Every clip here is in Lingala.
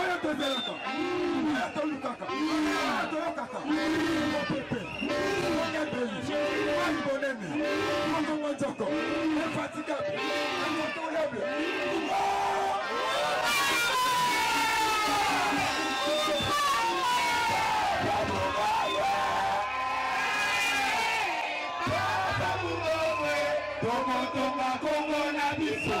oyo tozelaka oyo tolukaka oyo toyokaka mopepe mongebeli mai monene mongongo nzoko efatigable incontournable Tokotonga Kongo na biso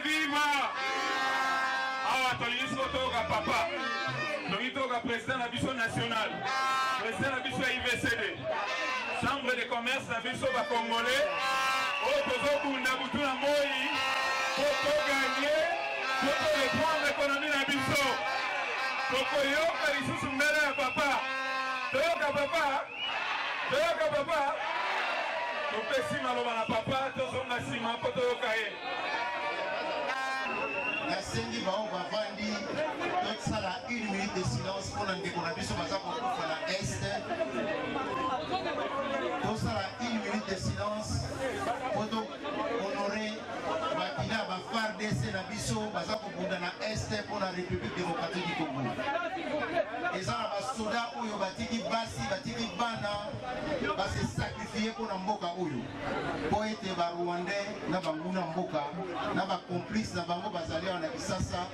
Viva! Awa tolingi siko toyoka papa. Tolingi toyoka president na biso national. President na biso ya IVCD. Chambre de commerce na biso ba congolais. Oyo tozobunda butu na moi. Po toganye. Po toreprendre ekonomi na biso. Tokoyoka lisusu mbele ya papa. Toyoka papa. toyoka papa topesi maloba na papa tozonga nsima mpo toyoka ye nasengi baoyo bavandi tosala une minute de silence mpo na ndeko na biso baza kokufa na este tosala une minute de silence honore makila ba fardc na biso baza kobunda na est mpo na république démocratique du congo eza na basoda oyo batiki basi batiki bana base sacrifie mpo na mboka oyo mpo ete barwandais na banguna mboka na bacomplice na bango bazali awa na kisasa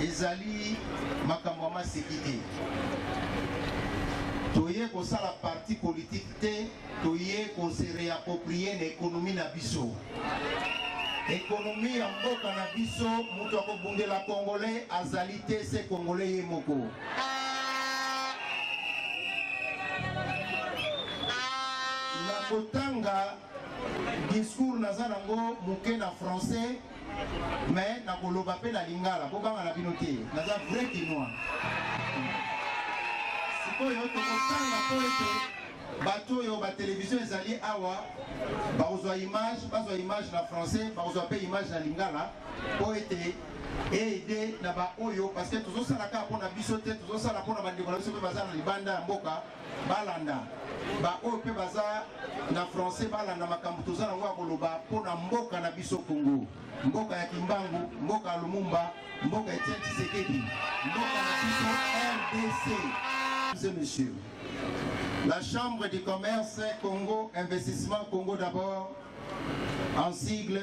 ezali makambo ya maseki te toye kosala parti politike te toye kose reaproprie na ekonomi na biso ekonomi ya mboka na biso moto akobundela kongole azali te se kongole ye moko na kotanga discours naza nango moke na français mais nakoloba mpe na lingala bobanga na bino te naza vrai kinois sikoyo tokotanga mpo ete bato oyo batelevizio ezali awa bakozwa image bazwa image na français bakozwa mpe image na lingala mpo ete eide na baoyo parce que tozosala kaka mpo na biso te tozosala mpo na bandeko na biso mpe baza na libanda ya mboka balanda baoyo mpe baza na français balanda makambo toza nango ya koloba mpo na mboka na biso kongo mboka ya kimbangu mboka ya lumumba mboka ya etienne tshisekedi mboka na biso rdc et messieurs la chambre du commerce congo investissement congo d'abord en sigle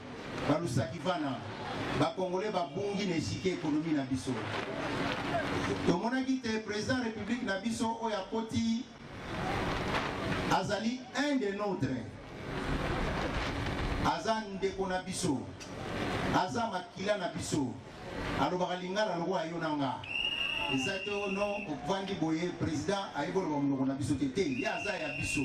Balusakivana, ba Congolais babungi na esika ekonomi na biso. Tomonaki te president ya republique na biso oyo akoti azali un de notre aza ndeko na biso aza makila na biso alobaka lingala lokola yo na nga eza te o no ovandi boye président ayebi oloba monoko na biso te te ye aza ya biso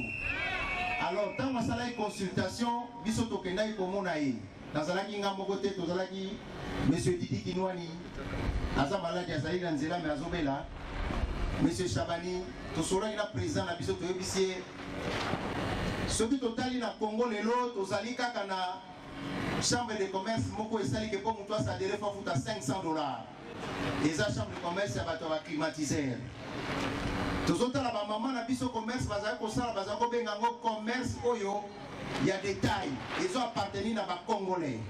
alors ntango asalaki consultation biso tokendaki komona ye nazalaki nga moko te tozalaki monsieur didi kinwani aza maladi azali na nzela me azobela monsieur shabani tosolaki na président na biso toyebisi ye soki totali na congo lelo tozali kaka na Chambre de commerce moko esali ke po mutu asadere fo afuta 500 dollars. Eza chambre de commerce ya bato ya baclimatiseur. Tozotala bamama na biso commerce bazali kosala, bazali kobenga yango commerce oyo ya detail ezo appartenir na bacongolais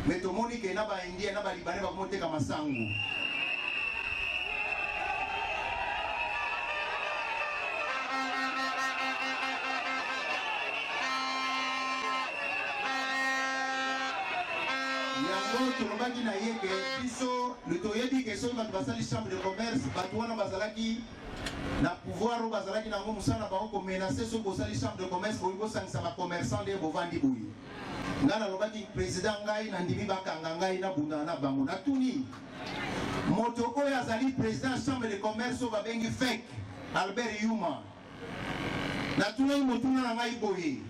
mais tomoni ke na ba India na ba libanais bakomi oteka masangu yango tolobaki na ye ke biso toyebi ke soki bato basali chambre de commerce bato wana bazalaki na pouvoir oyo bazalaki nango mosala bango komenase soki bosali chambre de commerce boyi bosangisa bacommerçant nde bovandi boye Nga nalobaki president, ngai nandimi bakanga ngai nabundana na bango. Natuni moto oyo azali president chambre de commerce oyo babengi fek Albert Yuma, natunaki motuna na ngai boye,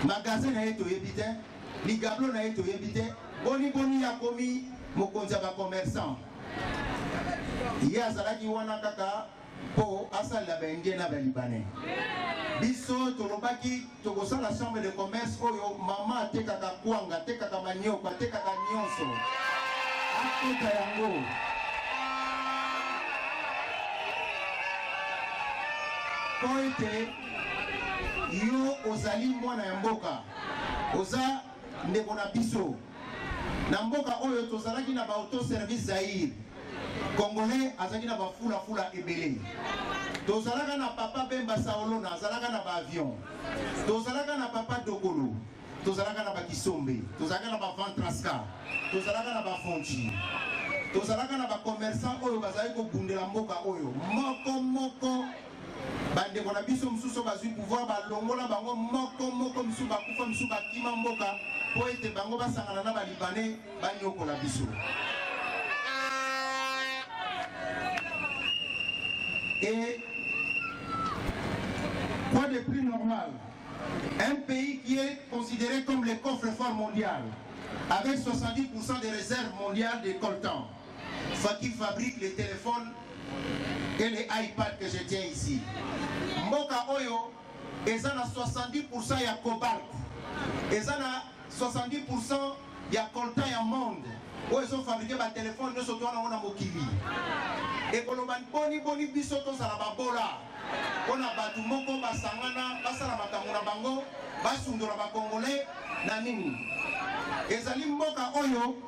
magasin na ye toyebi te, ligablo na ye toyebi te, boni boni yakomi mokonzi ya bacommerçant ye azalaki wana kaka po asalela ba indien na ba libanais biso tolobaki tokosala chambre de commerce oyo mama atekaka kwanga atekaka manioko atekaka nyonso akota yango po ete yo ozali mwana ya mboka oza ndeko na biso na mboka oyo tozalaki na ba auto service Zaire congolais azalaki na bafulafula ebele tozalaka na papa bemba saolona azalaka na baavion tozalaka na papa dokolo tozalaka na bakisombe tozalaka na baventrasca tozalaka na bafonci tozalaka na bacommerçant oyo bazali kobundela mboka oyo moko moko bandeko na biso mosusu bazwi pouvoir balongola bango moko moko misusu bakufa misusu bakima mboka mpo ete bango basangana na balibane banyokola biso et quoi de plus normal un pays qui est considéré comme le coffre-fort mondial avec 70% des réserves mondiales des coltans Fatih fabrique les téléphones et les iPads que je tiens ici. Mboka oyo eza na 70% ya cobalt, eza na 70% ya coltan ya monde oyo ezo fabriquer ba téléphone nyoso to wana na mokili. Ekoloba boni boni biso tozala babola mpo na bato moko basangana basala makambo na bango basundola bakongole na nini? Ezali mboka oyo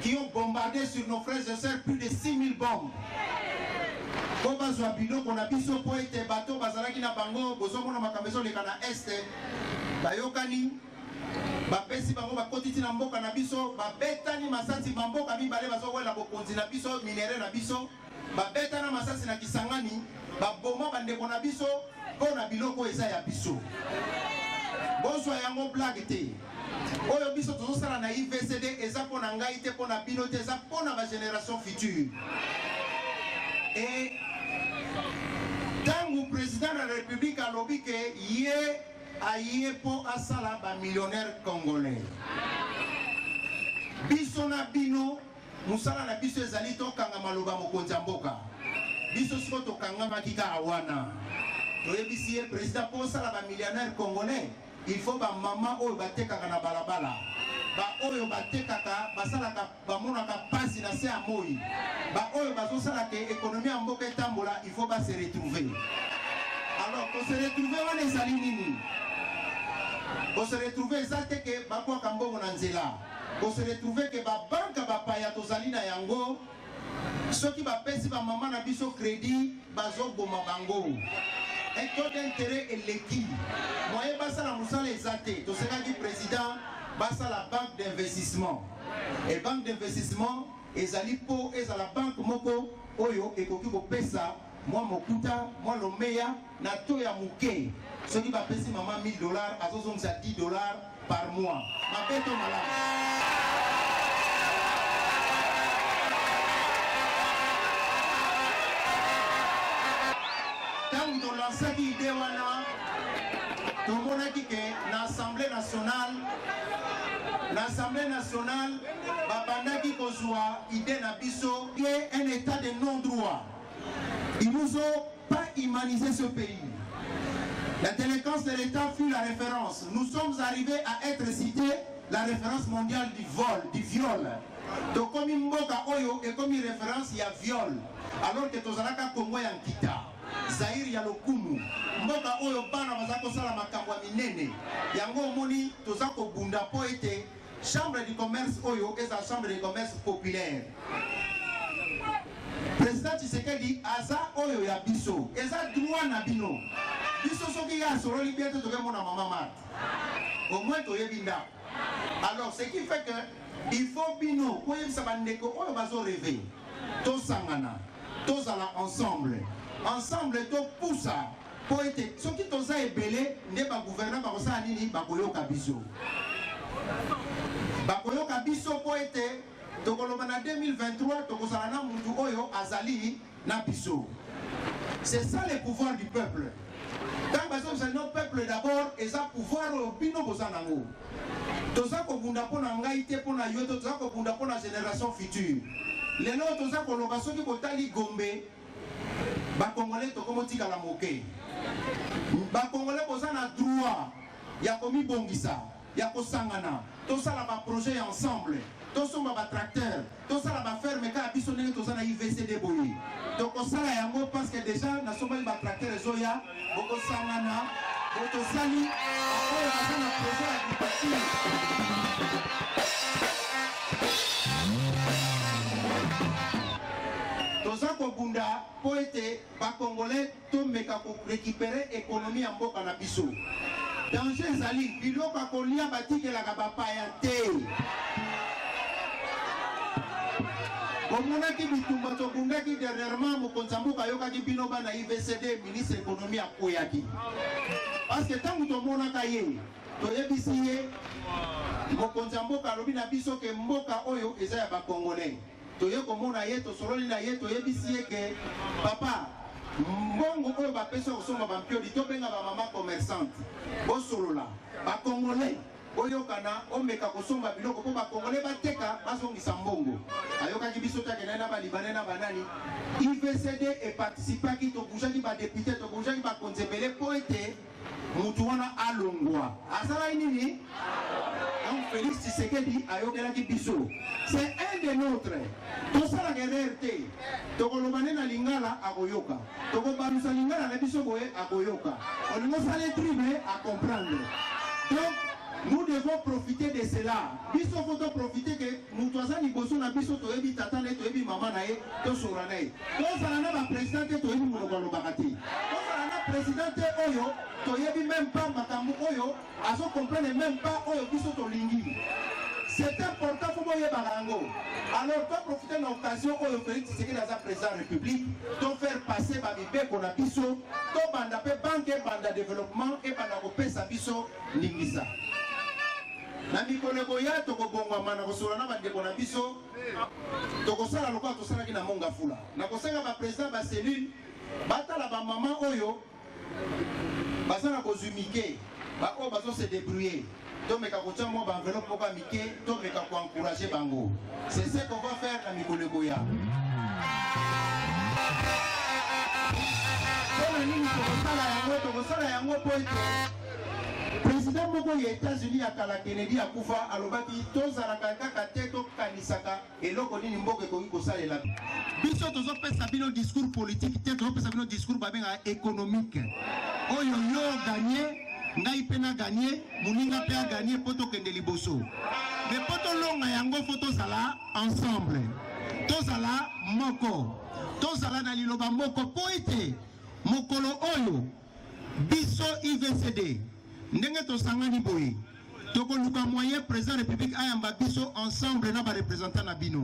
qui ont bombardé sur nos frères et sœurs plus de 6000 bombes mpo bazwa biloko na biso mpo ete bato bazalaki na bango bozomona makambo ezoleka na este bayokani bapesi bango bakoti ntina mboka na biso babetani masasi bamboka mibale bazowela bokonzi na biso minere na biso babetana masasi na Kisangani, baboma bandeko na biso mpo na biloko eza ya biso. Bozwa yango blague te. Oyo biso tozosala na IVCD eza mpo na ngai te, mpo na bino te, eza mpo na bageneration future. E ntango president na republique alobi ke ye aye mpo asala bamillionnaire congolais biso na bino Mosala na biso ezali tokanga maloba mokonzi ya mboka. Biso siko tokangamaki kaka wana. Toyebisi ye president mpo osala ba millionnaire congolais, il faut ba mama oyo batekaka na balabala baoyo batekaka basalaka bamonaka mpasi na se ya moi baoyo bazosala ke ekonomi ya mboka etambola il faut base retrouver alors kose retrouver wana ezali nini kose retrouver eza te ke bakwaka mbongo na nzela ko se retrouver que ba banque ya bapaya tozali na yango soki bapesi bamama na biso credit bazoboma bango un taux d'intérêt eleki moye basala mosala eza te tosekaki président basala banque d'investissement et banque d'investissement ezali mpo ezala banque moko oyo ekoki kopesa mwa mokuta mwa lomeya na to ya moke soki bapesi mama 1000 dollars azozongisa 10 dollars par mois mabeto malamu ntango tolansaki ide wana tomonaki ke na assemblée nationale na assemblée nationale babandaki kozwa ide na biso ke un état de non droit Ils nous ont pas humanisé ce pays. La délinquance de l'État fut la référence. Nous sommes arrivés à être cités la référence mondiale du vol, du viol. tokomi mboka oyo ekomi référence ya viol alors que tozalaka kongo ya nkita zaire ya lokumu mboka oyo bana baza kosala makambo ya minene yango omoni toza kobunda mpo ete Chambre du commerce oyo eza chambre de commerce populaire. President Tshisekedi aza oyo ya biso, eza droit na bino. Biso soki ya sololi bien te tokemona mama Marthe. Au moins toyebi ndako. Alors ce qui fait que il faut bino koyebisa bandeko oyo bazo reve tosangana tozala ensemble ensemble topusa Mpo ete soki toza ebele nde ba gouvernants bakosala nini? Bakoyoka biso, bakoyoka biso mpo ete tokoloba na 2023 tokozala na mutu oyo azali na biso. C'est ça le pouvoir du peuple. Ntango bazobisa no peuple d'abord eza pouvoir oyo bino boza nango. Toza kobunda mpo na ngai te, mpo na yo te, toza kobunda mpo na generation future. Lelo toza koloba soki botali Gombe ba congolais tokomo tikala moke ba congolais boza na droit ya komibongisa ya kosangana tosala ba projet ya ensemble tosomba ba tracteur tosala ba ferme kaka biso ndenge toza na ivcd boye tokosala yango parce que déjà nasombaki ba tracteur ezoya bokosangana botosali oyo baza na projet ya dipati toza kobunda mpo ete bakongolais tomeka korekipere ekonomi ya mboka na biso danger ezali biloko ya kolia batikelaka bapaya te bomonaki bitumba tobundaki dernièrement mokonzi ya mboka ayokaki bino bana mvcd ministre ekonomi akweyaki parceke ntango tomonaka ye toyebisi ye mokonzi ya mboka alobi na biso ke mboka oyo eza ya bakongolais toye komona ye tosololi na ye toyebisi ye ke papa mbongo oyo bapesi ya kosomba bampioli tobenga bamama commerçante bosolola bakongolais boyokana omeka kosomba biloko mpo bakongole bateka bazongisa mbongo ayokaki biso te akendaki na balibane na banani ivcd eparticipaki tobujaki badepute tobujaki bakonzi ebele mpo ete motu wana alongwa asalaki nini donc félix tshisekedi ayokelaki biso c'est un de notre tosalaka erreur te tokoloba nde na lingala akoyoka tokobamisa lingala na biso boye akoyoka olingi osala etribe acomprendre donc nous devons profiter de cela biso fo toprofite ke moto aza liboso na biso toyebi tata na ye toyebi mama na ye tosora na ye tozala na baprésident te toyebi monoko alobaka te tozala na président te oyo toyebi meme pas makambo oyo azo comprendre meme pas oyo biso tolingi c'est important faut boyebaka yango alors to profite na occasion oyo félix tshisekedi aza président ya république to faire passer bamibeko na biso tobanda mpe banke ebanda développement ebanda kopesa biso ndingisa na mikolo ekoya tokobongwama na kosolola na bandeko na biso tokosala lokola tosalaki na mongafula na kosenga baprésident bacellule batala bamama oyo baza na bozwi mike baoyo bazo se débrouiller tomeka kotya mwa baenveloppe moko ya mike tomeka koencourage bango c'est ce qu'on va faire na mikolo ekoya mpona nini tokosala yango tokosala yango mpo ete president moko ya états-unis ya kala kennedy akufa alobaki tozalaka kaka te tokanisaka Eloko nini mboka ekoki kosalela biso? Tozopesa bino discours politique te, tozopesa bino discours babenga économique. Oyo yo gagner, ngai mpe na gagner, moninga mpe a gagner mpo tokende liboso. Mais mpo tolonga yango fo tozala ensemble, tozala moko, tozala na liloba moko mpo ete mokolo oyo biso ivcd ndenge tosangani boye tokoluka moyen président république ayamba biso ensemble na barepresentant na bino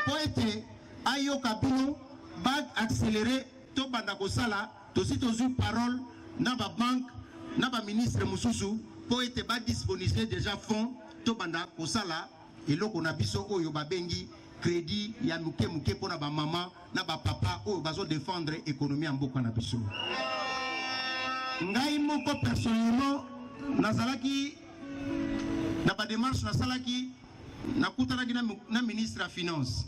mpo ete ayoka bino baaccéléré tobanda kosala tosi tozwi parole na babanke na baministre mosusu mpo ete badisponible déjà fonds tobanda kosala Eloko na biso oyo babengi credit ya muke muke mpo na bamama na bapapa oyo bazo defendre ekonomi ya mboka na biso. Ngai moko personnellement nazalaki na bademarche nasalaki nakutanaki na ministre ya finance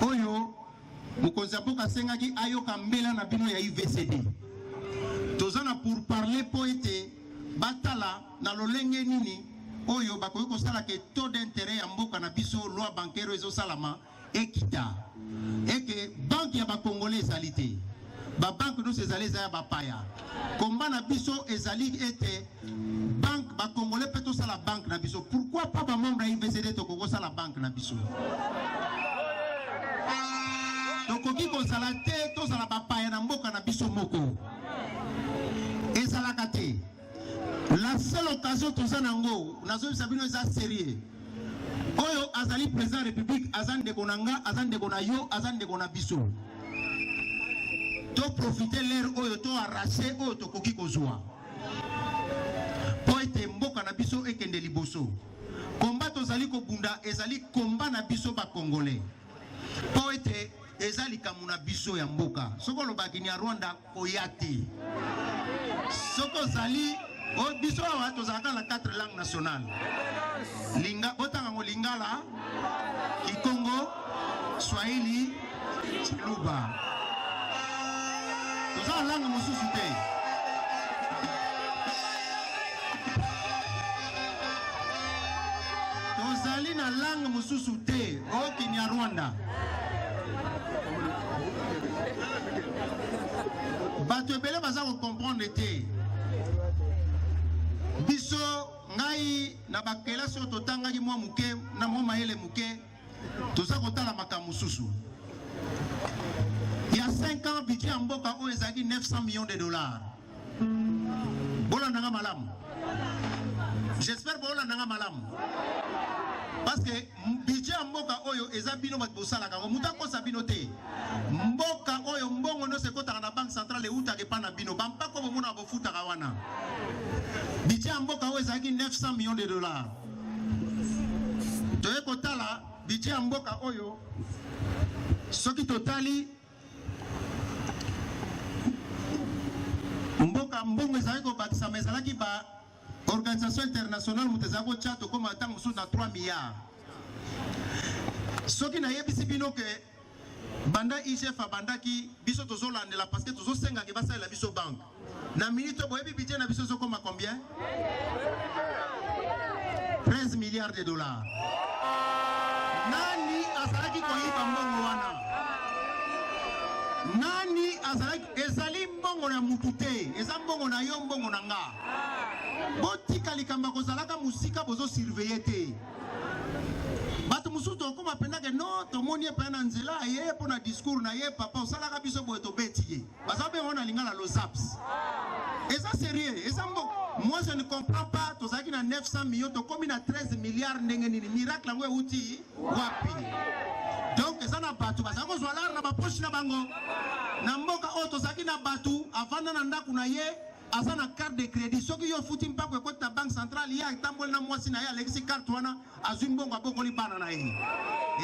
oyo mokonzi ya mboka asengaki ayoka mbela na bino ya uvcd toza na pour parler mpo ete batala Na lolenge nini oyo bakoki kosala ke taux d'interet ya mboka na biso loi bancaire ezosalama ekita eke banke ya bakongole ezali te babanke nyonso ezali eza ya bapaya komba na biso ezali ete banke bakongole mpe tosala banke na biso pourkui pa bamembre ya ivcd tokoki kosala banke na biso tokoki kozala te tozala bapaya na mboka na biso moko ezalaka te La seule occasion toza nango, nazobisa bino eza serieux. Oyo azali président ya République aza ndeko na nga, aza ndeko na yo, aza ndeko na biso. To profiter l'heure oyo to arracher oyo tokoki kozwa. Po ete mboka na biso ekende liboso. Komba tozali kobunda ezali komba na biso ba Congolais. Po ete eza likambo na biso ya mboka. Soko olobaki ni ya Rwanda koya te soki ozali biso awa tozalaka na quatre langue nationale linga botanga ngo lingala kikongo swahili chiluba toza na langue mosusu te tozali na langue mosusu te o kinyarwanda bato ebele baza kocomprendre te biso ngai na bakelasi oyo totangaki mwa moke na mwa mayele moke toza kotala makambo mosusu ya 5 ans budget ya mboka oyo ezalaki 900 millions de dollars bolanda nga malamu j'espère bolanda nga malamu parce que budget ya mboka oyo eza bino bato bosalaka yango moto akosa bino te mboka oyo mbongo nyonso ekotaka na banque centrale eutaka epai na bino bampako bomonaka bofutaka wana budget ya mboka oyo ezalaki 900 millions de dollars toye kotala budget ya mboka oyo soki totali mboka mbongo ezalaki kobakisama ezalaki ba organisation internationale moto ezalaki kotya tokoma ntango mosusu na 3 milliard soki nayebisi bino ke banda igf abandaki biso tozolandela parce que tozosengaki basalela biso banke Na minute boyebi budget na biso ezokoma combien? 13 milliards de dollars. Nani azalaki koyiba mbongo wana? Nani azalaki ezali mbongo na mutu te, eza mbongo na yo, mbongo na nga. Botika likambo ya kozalaka mosika bozo surveiller te. bato mosusu tokokoma mpenza ke no tomoni ye mpenza na nzela aye mpo na discours na ye papa osalaka biso boye tobeti ye baza bengo na lingala lozaps eza serieux eza mbo moi je ne comprends pas tozalaki na 900 millions tokomi na 13 milliards ndenge nini miracle yango euti wapi donc eza na bato bazali kozwa lare na bapoche na bango na mboka oyo tozalaki na bato avanda na ndako na ye aza na carte de crédit soki yo ofuti mpako ekoti na banque centrale ye atamboli na mwasi na ye alekisi carte wana azwi mbongo abokoli bana na ye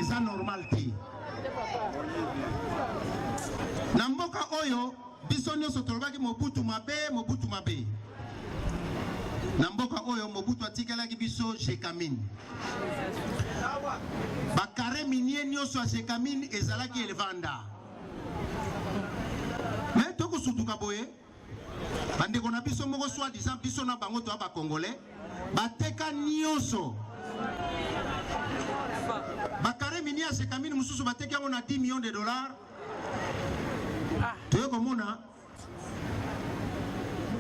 eza normal te na mboka oyo biso nyonso tolobaki mobutu mabe mobutu mabe na mboka oyo mobutu atikelaki biso jekamine bakare minie nyonso ya jekamine ezalaki elevanda me tokosutuka boye bandeko na biso moko soit disant biso na bango toya ba congolais bateka nyonso bakare mini ya sekamini mosusu bateki yango na 10 millions de dollars ah. toye komona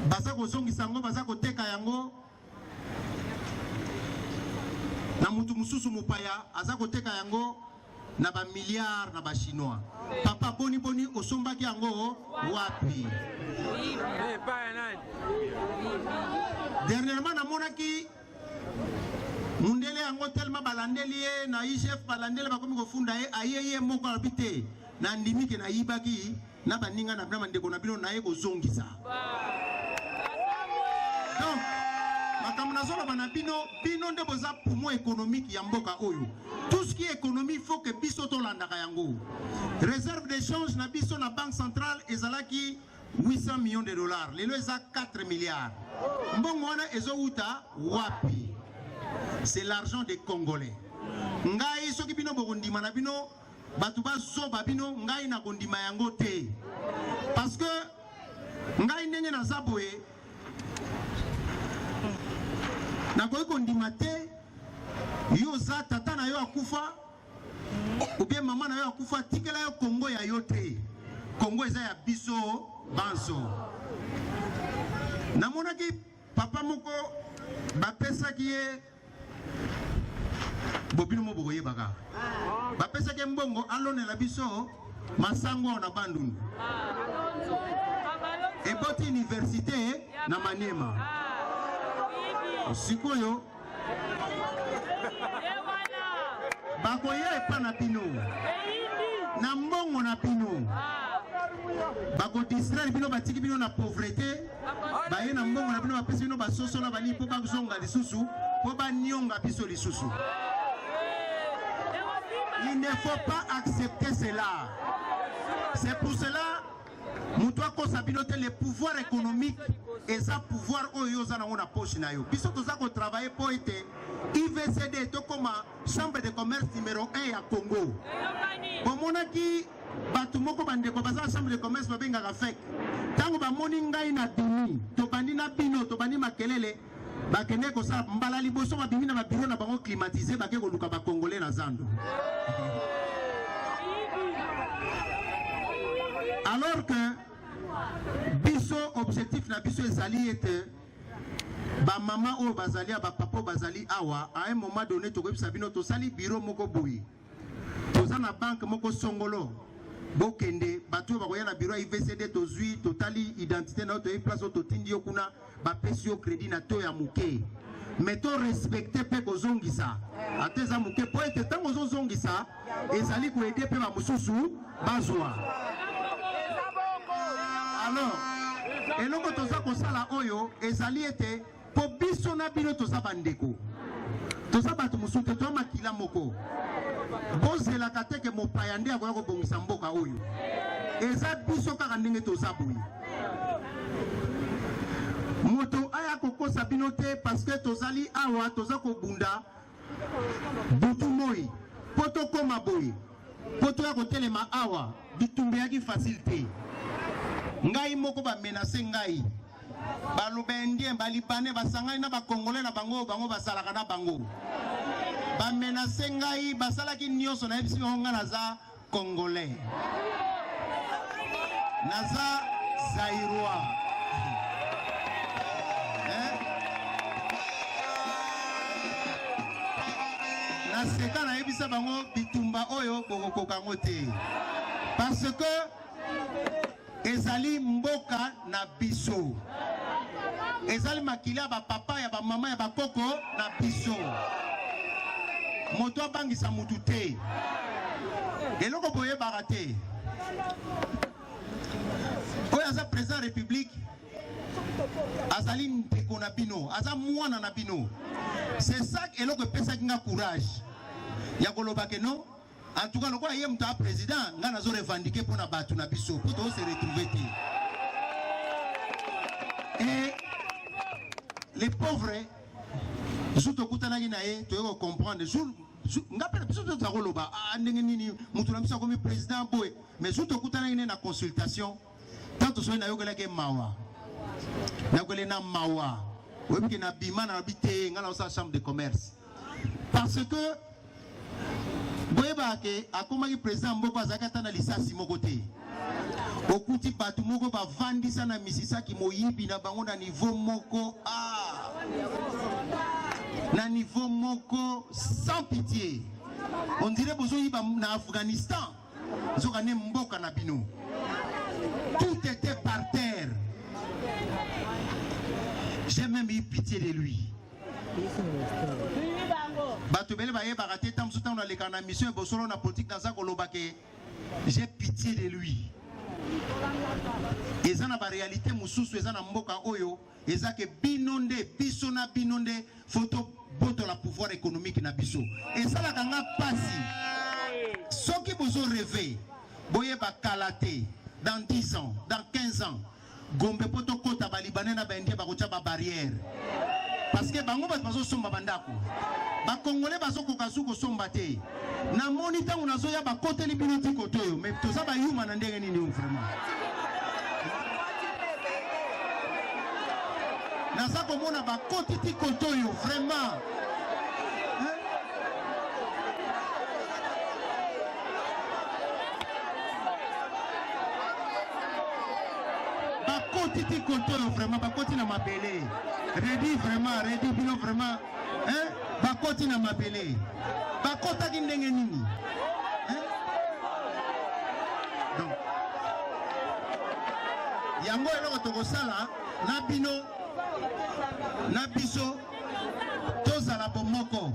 baza kozongisa yango baza koteka yango na mutu mususu mopaya aza koteka yango na ba milliards na ba chinois papa boni boni osombaki yango wapi dernièrement namonaki mundele yango tellement balandeli ye na igf balandeli bakomi kofunda ye aye ye moko alobi te nandimi ke nayibaki na baninga na bino bandeko na bino naye kozongisa donc makambo nazoloba na bino bino nde boza poumon économique ya mboka oyo tout ce qui est économie faut que biso tolandaka yango réserve d'échange na biso na banque centrale ezalaki 800 millions de dollars lelo eza 4 milliards mbongo wana ezowuta wapi c'est l'argent des congolais ngai soki bino bokondima na bino bato bazoba bino ngai na kondima yango te parce que ngai ndenge naza boye nakoki kondima te yo oza tata na yo akufa obie mama na yo akufa tikela yo kongo ya yo te kongo eza ya biso banso namonaki papa moko bapesaki ye bobino mo bokoyebaka bapesaki mbongo alonela biso masango awa na bandundu eboti université na maniema sikoyo bakoya epa na bino na mbongo na bino bakodistraire bino batiki bino na pauvrete baye na mbongo na bino bapesi bino basoso na banini mpo bazonga lisusu mpo banionga biso lisusu il ne faut pas accepter cela c'est pour cela moto akosa bino te le pouvoir économique eza pouvoir oyo oza nango na poche na yo biso toza kotravaille mpo ete ivcd tokoma chambre de commerce numero 1 ya congo bomonaki bato moko bandeko baza na chambre de commerce babengaka fek ntango bamoni ngai na bimi tobandi na bino tobandi makelele bakende kosala mbala liboso babimi na babiro na bango climatise bake koluka bakongole na zando alors que biso objectif na biso ezali ete bamama oyo bazali ya bapapa oyo bazali awa à un moment donné tokoyebisa bino tosali biro moko boye Toza na banque moko songolo bokende bato oyo bakoya na biro ya ivcd tozwi totali identité na yo toyebi place oyo totindi yo kuna bapesi yo crédit na to ya moke me to respecte mpe kozongisa ata eza moke mpo ete ntango ozozongisa ezali koede mpe bamosusu bazwa alors eloko toza kosala oyo ezali ete Po biso na bino toza ba ndeko. Toza bato mosusu te, toza makila moko. Bozelaka te ke mopaya nde akoya kobongisa mboka oyo. Eza biso kaka ndenge toza boye. Moto aya kokosa bino te parce que tozali awa toza kobunda Butu moi po tokoma boye, po toya kotelema awa, bitumba eyaki facile te. Ngai moko ba menace ngai, baloba indien, balibane basangani na bakongole na bango, bango basalaka na bango, ba menace ngai, basalaki nyonso, nayebisi bango ngai naza Congolais. Naza Zaïrois. Hein? Naseka nayebisa bango bitumba oyo bokokoka yango te. Parce que ezali mboka na biso ezali makila ya bapapa ya bamama ya bakoko na biso moto abangisa motu te eloko boyebaka te oyo aza président ya république azali ndeko na bino aza mwana na bino c'est ça eloko epesaki nga courage ya kolobake non En tout cas, lokola ye moto a président, nga nazo revendiquer mpo na bato na biso mpo to se retrouver te. Et les pauvres jour tokutanaki na ye toye ko comprendre jour nga mpe na biso mpe tozakoloba ah, ndenge nini moto na biso akomi président boye mais jour tokutanaki ne na consultation ntango tosoli nayokelaki mawa nayokelaki na mawa oyebi ke nabima nalobi te ngai naosala chambre de commerce parce que boyebaka ke akomaki président mboko azalaki ata na lisasi moko te okuti bato moko bavandisa na misisaki moyibi na bango na nivo moko a ah. na nivo moko sans pitié on dirait bozoyiba na afghanistan nzoka nde mboka na bino tout était par terre j'ai même eu pitié de lui bato ebele bayebaka te ntango mosusu ntango nalekaka na mission ebosolo na politike naza koloba ke j'ai pitié de lui eza na barealité mosusu eza na mboka oyo eza ke bino nde biso na bino nde fo tobotola pouvoir économique na biso esalaka nga mpasi soki bozo reve boyeba kala te dans 10 ans dans 15 ans gombe mpo tokɔta balibanais na baindien bakotya babarrière parce que bango bato bazosomba bandako bakongole bazokoka su kosomba te Na moni ntango nazoya bakoteli bino ti kote oyo me toza bayuma na ndenge nini oyo vraiment naza komona bakoti ti kote oyo vraiment bakoti ti kote oyo vraiment bakoti na mabele redi vraiment redi bino vraiment eh, bakoti na mabele bakotaki ndenge nini eh? Donc, yango eloko tokosala na bino na biso tozala bomoko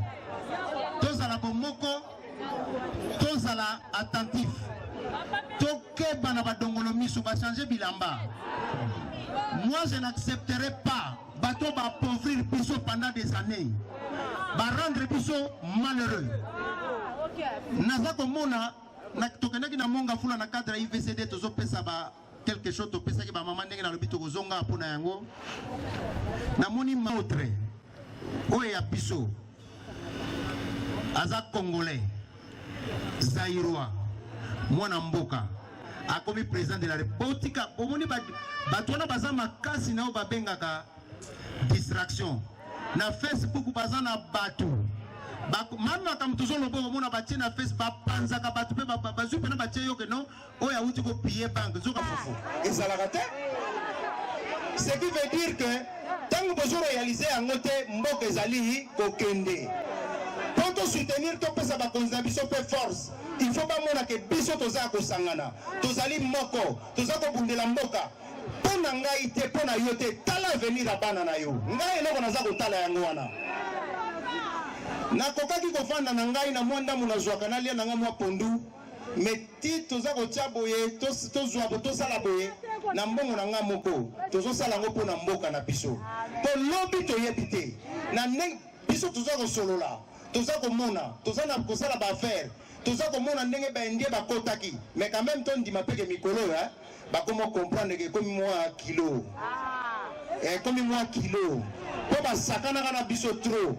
tozala bomoko tozala attentif tokeba na badongolo miso bachange bilamba moi je n'accepterai pas bato ba appauvrir biso pendant des années ba rendre biso malheureux naza komona tokendaki na monga fula na cadre ya ivcd tozopesa ba quelque chose topesaki bamama ndenge nalobi tokozonga mpo na yango namoni mautre oyo ya biso aza congolais zairois mwana mboka akomi président de la botika bomoni bato wana baza makasi na oyo babengaka distraction na facebook baza na bato mame makambo tozoloba omona batie na facebook bapanzaka bato mpe bazwi mpena batie yoke no oyo awuti ko piller banque nzoka fufu ezalaka te ce qui veut dire que ntango bozo réaliser yango te mboka ezali kokende mpo tosoutenir topesa bakonzi na biso mpe force il faut bamona ke biso toza ya kosangana tozali moko toza kobundela mboka mpo na ngai te mpo na yo te tala avenir ya bana na yo ngai eloko naza kotala yango wana nakokaki kofanda na ngai na mwa ndambo nazwaka nalia na ngai mwa pondu mais ti toza kotia boye tozwa bo tosala boye na mbongo na ngai moko tozosala yango mpo na mboka na biso mpo lobi toyebi te na ndenge biso toza kosolola toza komona toza na kosala baaffaire toza komona ndenge baindien bakotaki mais quand même tondima mpeke mikolo oyo bakoma comprendre ke ekomi mwa kilo ah. ekomi mwa kilo mpo basakanaka na biso trop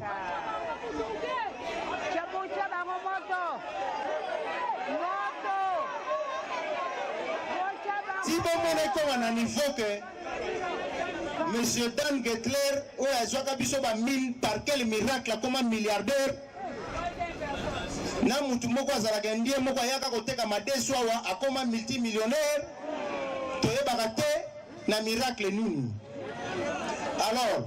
ti bomona ekoma na niveau ke monsieur dan getler oyo azwaka biso ba mille par quel miracle akoma milliardaire na mutu moko azalaka ndie moko ayaka koteka madesu awa akoma multimillionnaire toyebaka te na miracle nini alors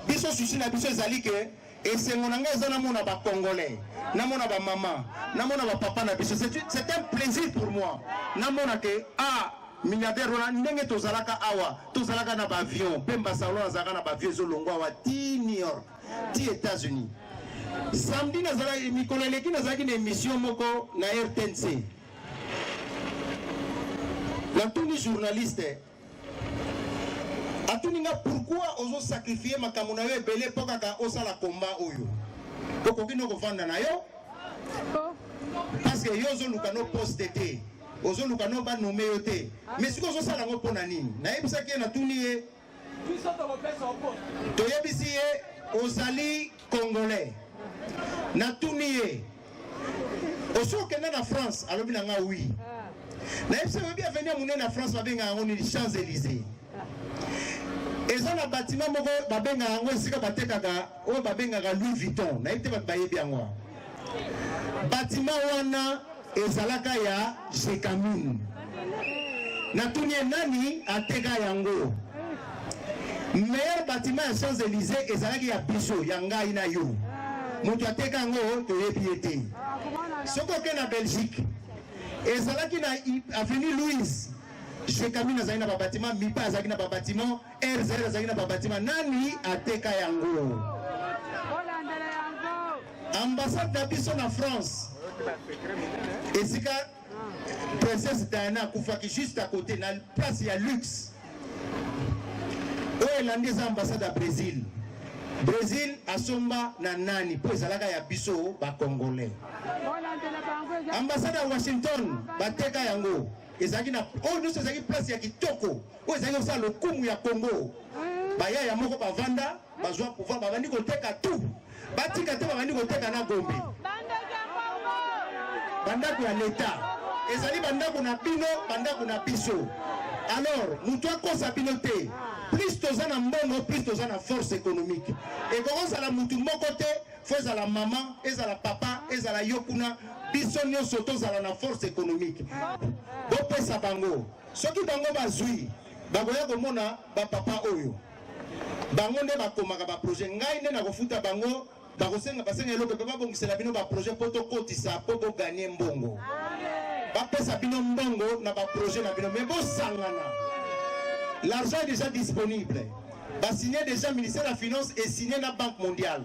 biso susi na biso ezali ke esengo na ngai eza namona bacongolais namona bamama namona bapapa na biso c'est un plaisir pour moi namona ke ah milliardaire wana ndenge tozalaka awa tozalaka na baavion mpe mbasalon azalaka na baavion ezolongwa awa ti new york ti Etats-Unis. Samedi nazalaki mikolo eleki nazalaki na emission moko na RTNC. Natuni journaliste atuni nga pourquoi ozo sacrifier makambo na yo ebele mpo kaka osala combat oyo okoki no kovanda na yo parce que yo ozoluka no poste te ozoluka no banome yo te mais sikoyo ozosala yango mpo na nini nayebisaki ye natuni ye toyebisi ye ozali congolais natuni ye osi okende na france alobi na nga wi nayebisi oyebi aveni ya monene ya france babengaka yango nini champs élysées eza na batima moko babengaka yango esika batekaka oyo babengaka louis vuitton nayebi te bato bayebi yango batima wana Ezalaka ya Jekamin. Natuni ye nani ateka yango. Meilleur bâtiment ya Champs Elysees ezalaki ya biso ya ngai na yo. Moto ateka yango toyebi ye te. Soki oke na Belgique ezalaki na avenue Louise Jekamin azali na babatima, Mipa azalaki na babatima, RZR azalaki na babatima. Nani ateka yango? Ambassade na biso na France esika princesse Diana akufaki juste à côté na place ya luxe oyo elandi eza ambassade ya Brésil Brésil asomba na nani mpo ezalaka ya biso bacongolais ambassade ya Washington bateka yango ezalaki na oyo nyonso ezalaki place ya kitoko oyo ezalaki kosala lokumu ya Congo bayaya moko bavanda bazwa pouvoir babandi koteka tout batika te babandi koteka na gombe bandako ya leta ezali bandako na bino bandako na biso alors moto akosa bino te plus toza na mbongo plus toza na force économique ekokozala motu moko te fo ezala mama ezala papa ezala yo kuna biso nyonso tozala na force économique bopesa bango soki bango bazwi bakoya komona bapapa oyo bango nde bakomaka ba projet ngai nde nakofuta bango bakosenga basenga eloko mpe babongisela bino ba projet mpo tokotisa mpo boganie mbongo bapesa bino mbongo na ba projet na bino me bosangana l'argent est déjà disponible basigne déjà ministère ya finance esigne na banque mondiale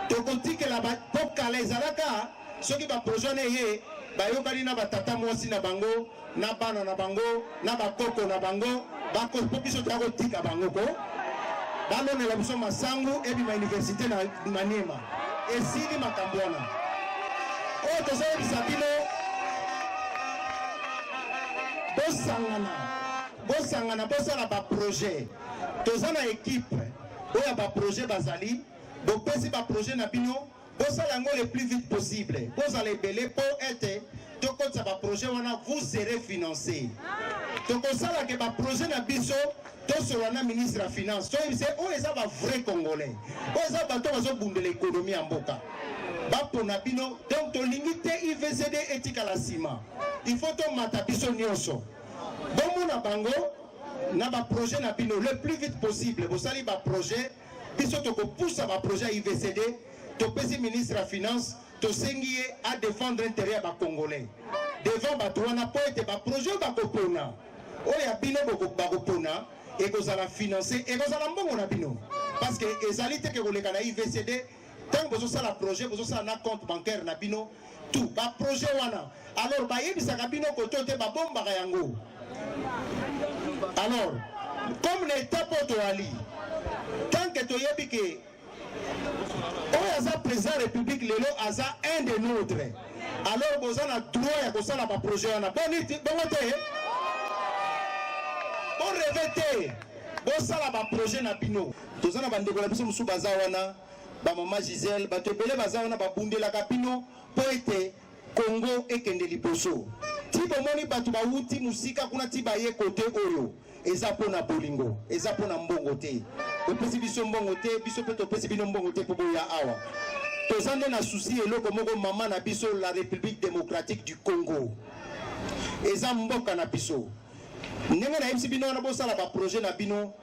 tokotikela mpo kala ezalaka soki baprojet wana eye bayokani na batata mwasi na bango na bana na bango na bakoko na bango bakopo biso toya kotika bango ko balonela biso masangu ebima université na maniema esili makambo wana oyo tozoyebisa bino bosangana bosangana bosala baprojet toza na ekipe oyo ya baprojet bazali bopesi baprojet na bino Bosala yango le plus vite possible. Bozala ebele po ete tokotisa ba projet wana vous serez financé. Tokosala ke ba projet na biso tosolola na ministre ya finance toyebisa oyo eza ba vrai congolais oyo eza bato bazobundela ekonomi ya mboka bapona bino donc tolingi te ivcd etikala nsima il faut tomata biso nyonso bomona bango na baprojet na bino le plus vite possible bosali baprojet biso tokopusa baprojet ya ivcd topesi ministre ya finance tosengi ye adefendre interet ya bacongolais devant bato wana mpo ete baprojet oyo bakopona oyo ya bino bakopona ekozala finance ekozala mbongo na bino parce que ezali teke koleka na ivcd ntango bozosala projet bozosala na compte bancaire na bino tout baprojet wana alors bayebisaka bino koto te babombaka yango alors comme na état mpo toali tant que toyebi ke oyo aza président république lelo aza un de notre alors boza na droit ya kosala baprojet wana bongo te boreve te bosala baprojet na bino toza na bandeko na biso mosusu baza wana bamama gisele bato ebele baza wana babundelaka bino mpo ete kongo ekende liboso ti bomoni bato bawuti mosika kuna ti baye kote oyo eza mpo na bolingo eza mpo na mbongo te bopesi biso mbongo te biso mpe topesi bino mbongo te mpo boya awa toza nde na susi eloko moko mama na biso la république démocratique du congo eza mboka na biso ndenge nayebisi bino wana bosala baprojet na bino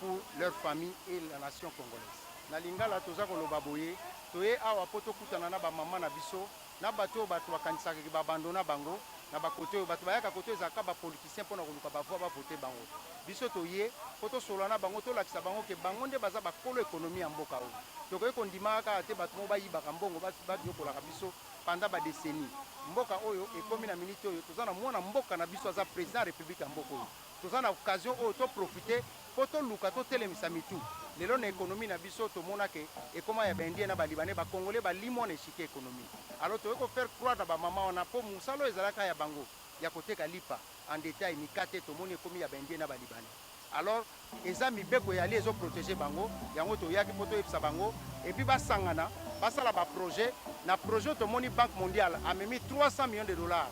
pour leur famille et la nation congolaise. Na lingala toza koloba boye, toye awa po tokutana na ba maman na biso, na batu oyo batu bakanisaka ke ba abandonna bango na ba cote oyo. Batu bayaka cote oyo ezalaka kaka ba politiciens pona koluka ba voix ba voter bango. Biso toye po tosolola na bango, tolakisa bango ke bango nde baza ba kolo economie ya mboka oyo. Tokoki kondimaka kaka te batu moko bayibaka mbongo, baniokolaka biso pendant ba decennies. Mboka oyo ekomi na minute oyo toza na mwana mboka na biso aza President ya Republique ya mboka oyo. Toza na occasion oyo to profiter po toluka totelemisa mitu. Lelo na economie na biso tomona ke ekoma ya ba indiens na ba libanais, ba congolais balimua na echiquier economique. Alors toye ko faire croire na ba maman wana po musala oyo ezalaki kaka ya bango ya koteka lipa en detail, mikate, tomoni ekomi ya ba indiens na ba libanais. Alors eza mibeko ya ali ezo proteger bango, yango toyaki po toyebisa bango et puis basangana basala ba projets. Na projet oyo tomoni Banque mondiale amemi 300 millions de dollars.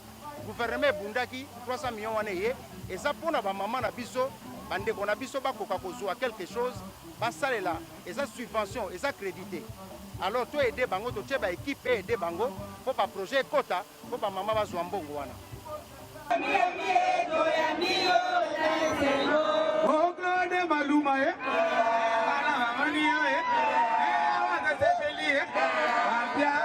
Gouvernement ebundaki 300 millions wana eye eza pona ba maman na biso ba ndeko na biso bakoka kozua quelque chose basalela eza subvention eza credit te alors to aider bango totie ba équipe et aider bango po ba projet ekota po ba maman bazua mbongo wana Ogrande maluma eh Bana mamani yo eh Eh wakasepeli eh Ampia